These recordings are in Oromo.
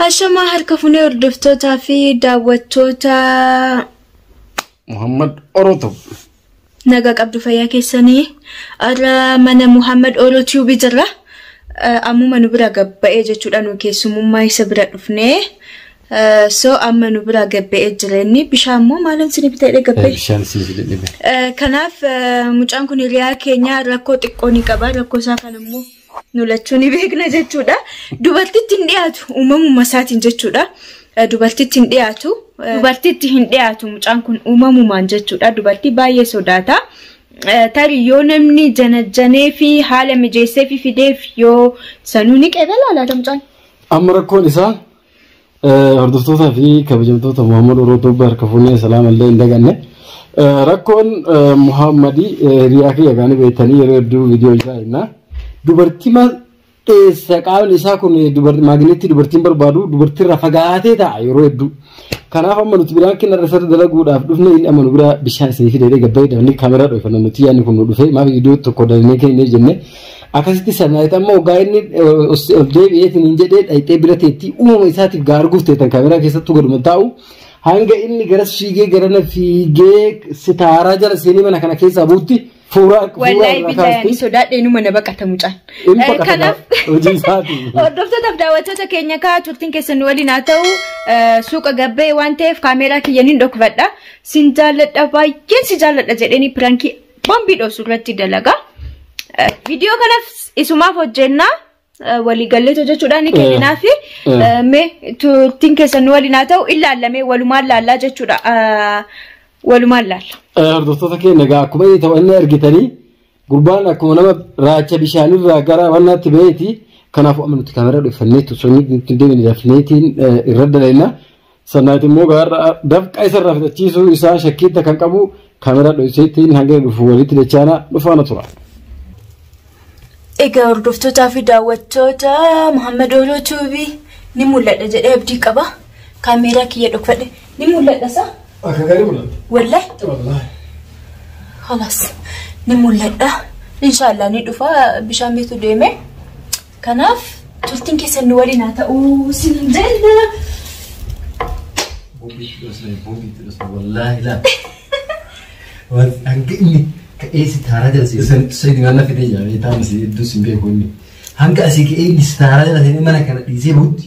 Hashamaa harka funee hordoftootaa fi daawwattoota Muhammad Orotub. nagaa qabdu fayyaa keessanii har'a mana Muhammad Oro Tube jirra. Eh, Ammuma nu bira gabba'ee jechuudha nu keessumummaa isa bira dhufnee. Eh, So amma nu bira gabba'ee jira inni bishaan immoo maalan sini bitee gabba'e? Bishaan siif dhibbe. Eh, Kanaaf eh, mucaan kun hiriyaa keenya rakkoo xiqqoo ni qaba rakkoo isaa kan immoo nu lachuu ni beekna jechuudha. Dubartitti hin dhiyaatu uumamuma isaatiin jechuudha. Eh, Dubartitti hin dhiyaatu. eh, Dubartitti hin dhiyaatu mucaan kun uumamumaan jechuudha. Dubartii baay'ee sodaata. Eh, Tarii yoo namni janajjanee fi haala mijeessee fi fideef yoo sanuu ni qeebala laata mucaan? Amma rakkoon isaa Hordoftootaa fi kabajamtoota Muhammad Oroo Tuubba harka fuunee salaama illee hin daganne. Rakkoon Muhammadi hiriyaa kiyya gaanii beektanii yeroo hedduu viidiyoo isaa himna. Dubartii maal dheessa qaamni isaa kun maagneetti dubartiin barbaadu dubartiirraa fagaatee ta'a yeroo hedduu. Kanaaf amma nuti biraan kenna irra sarara dalaguudhaaf dhufne inni amma nu biraa bishaan isinii fidee gabbayee dafnee kaameraa dhoofannoo nuti yaadni kun nu dhufee maaf viidiyoo tokko dalinee kennee jennee Akkasitti sanaayitaa immoo ogaa inni ol deebi'ee hin jedhee dhayxee bira teettii uumama isaatiif gaa arguuf teetan kaameraa keessattuu gaduma taa'u. Hanga inni garas fiigee garana fiigee sitaaraa jala seenee mana kana keessaa buutti fuuraa Wallahi billahi sodaadhee numa na baqata mucaan. Kanaaf hojii isaati. Hordoftootaf daawwattoota keenya kaa turtiin keessan nu waliin haa ta'u suuqa gabbee waan ta'eef kaameeraa kiyyan hin dhokfadha. Sin jaalladha baay'een si jaalladha jedheenii pirankii Bombii dhosu irratti dalagaa. Viidiyoo kanas isumaaf hojjennaa waliigallee hojjechuudhaan ni kenninaa fi mee turtiin keessan nu waliin haa ta'u ilaallamee walumaan laallaa jechuudha. Walumaan laalla. Hordoftoota keenya egaa akkuma inni ta'u inni argitanii gurbaan akkuma nama raacha bishaanirraa gara wannaatti ba'eeti. Kanaafuu amma nuti kaameraa dhuffanneetu osoo nuti hin deemne dafneetiin irra dalaynaa. Sannaayit immoo gaarra dafqa isarraa fixachiisuu isaa shakkiitti kan qabu kaameraa dho'iseettiin hanga dhufu walitti dachaana dhufaana tura. Egaa hordoftootaa fi daawwattoota Muhammad Ooloo Tuubii ni mul'adha jedhee abdii qaba. Kaameeraa kiyya dhokfadhe ni mul'adha isaa? Akka gaarii mul'ata. Wallahi? Wallahi. Halas ni mul'adha. Inshaallah ni dhufa bishaan bitu deemee. Kanaaf turtiin keessan nu waliin haa ta'u sin jenna. Boombii itti dhosne boombii itti dhosne wallaahi laa. Waan hanga inni ka'ee si taaraa jala si san sadi waan na fidee jira beekaa misi hedduu sin beeku inni. Hanga asii ka'ee inni si taaraa jala seenee mana kana dhiisee buutti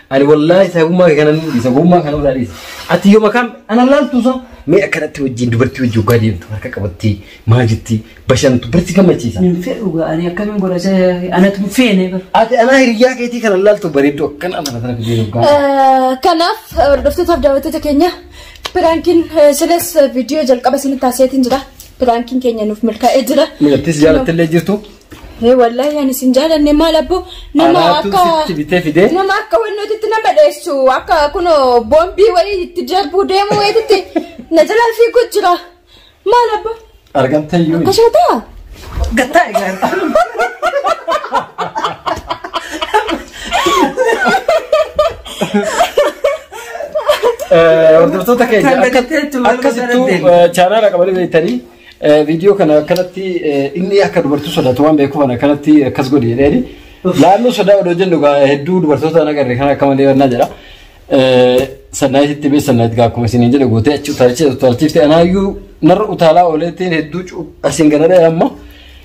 Ani wallaahi saahibummaa kee kana nan dhiisa gowwummaa kana irraa dhiisa. Ati yooma kam ana laaltu sa mee akkanatti wajjin dubartii wajjin ogaa deemtu harka qabattee maal jetti bashantu barsi gammachiisa. Hin fedhu ga'anii akkamiin godha isa anatu hin feene bar. Ati anaa hiriyyaa keetii kana laaltu bareedduu akkana amala sana fidee dhugaa. Eh, Kanaaf eh, hordoftoota fi daawwattoota keenya piraankiin eh, silas eh, viidiyoo jalqaba isinitti taasiseetiin jira. Piraankiin keenya nuuf milkaa'ee jira. Milattis jaalattillee jirtu. Hee wallaahi ani sin jaalanne maal abbo nama Anaatu akka sitti bitee fidee. nama akka wannootitti nama dheessu akka kuno boombii wayii itti darbuu deemu wayiitti na jalaa fiiguu jira maal abbo Argamtee yoo. akkasuma ta'a. Gattaa egaa. Hordoftoota keenya Kan akka- gadi teettu wal akkasittuu gadi deemu. chaanaala qabanii beektanii Viidiyoo kana akkanatti inni akka dubartii sodaatu waan beekuuf ana akkanatti akkas godhi jedheeni. Laalluu sodaa odoo jennu egaa hedduu dubartoota na garre kan akka malee wannaa jedha. Sannaayit itti beessa sannaayit gaa akkuma isiniin jedhe gootee achi utaalchee utaalchiifte anaayyuu narra utaalaa ooleetiin hedduu asiin garaadha amma.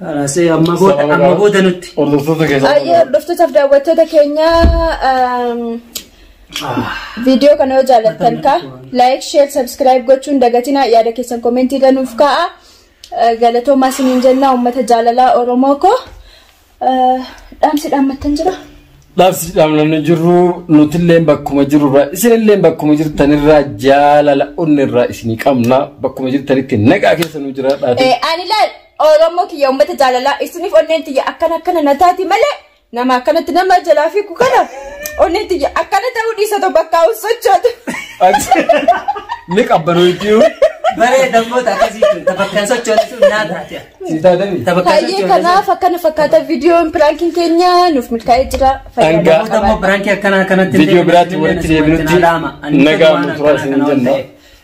Haasee amma booda amma booda nutti. Hordoftoota keessaa. Baay'ee hordoftootaaf daawwattoota keenya ehm, viidiyoo kana yoo jaallattan ka like share subscribe gochuun dagatinaa yaada keessan komentii irra nuuf kaa'a Eh, galatoomaa isiniin jennaa uummata jaalalaa oromoo koo Eh, dhaamsi dhaammattan jira Dhaabsi dhaamnamni jirru nutilleen bakkuma jirurraa isinilleen bakkuma jirtanirraa jaalala onnirraa isinii qabna bakkuma jirtanitti nagaa keessa nu jiraadhaati. Eh, ani laal Oromoo kiyya uummata jaalalaa isiniif onneen tiyya akkana akkana na taati malee nama akkanatti nama jalaa fiigu kana onneen tiyya akkana ta'uu dhiisa tokko bakka hawwan sochootu. Ni qabbanoo itti yoo. Baree dammoota akkasii kun tabakkaan sochoone sun naa taate. Si taatani. Tabakkaan Baay'ee sochoone sun. kanaaf akkana fakkaata viidiyoon piraankiin keenya nuuf milkaa'ee jira. Fayyaa Hanga- Namoota ammoo birankii akkanaa kanatti Viidiyoo biraatti walitti deebinutti nagaa nu turaa isin jenna.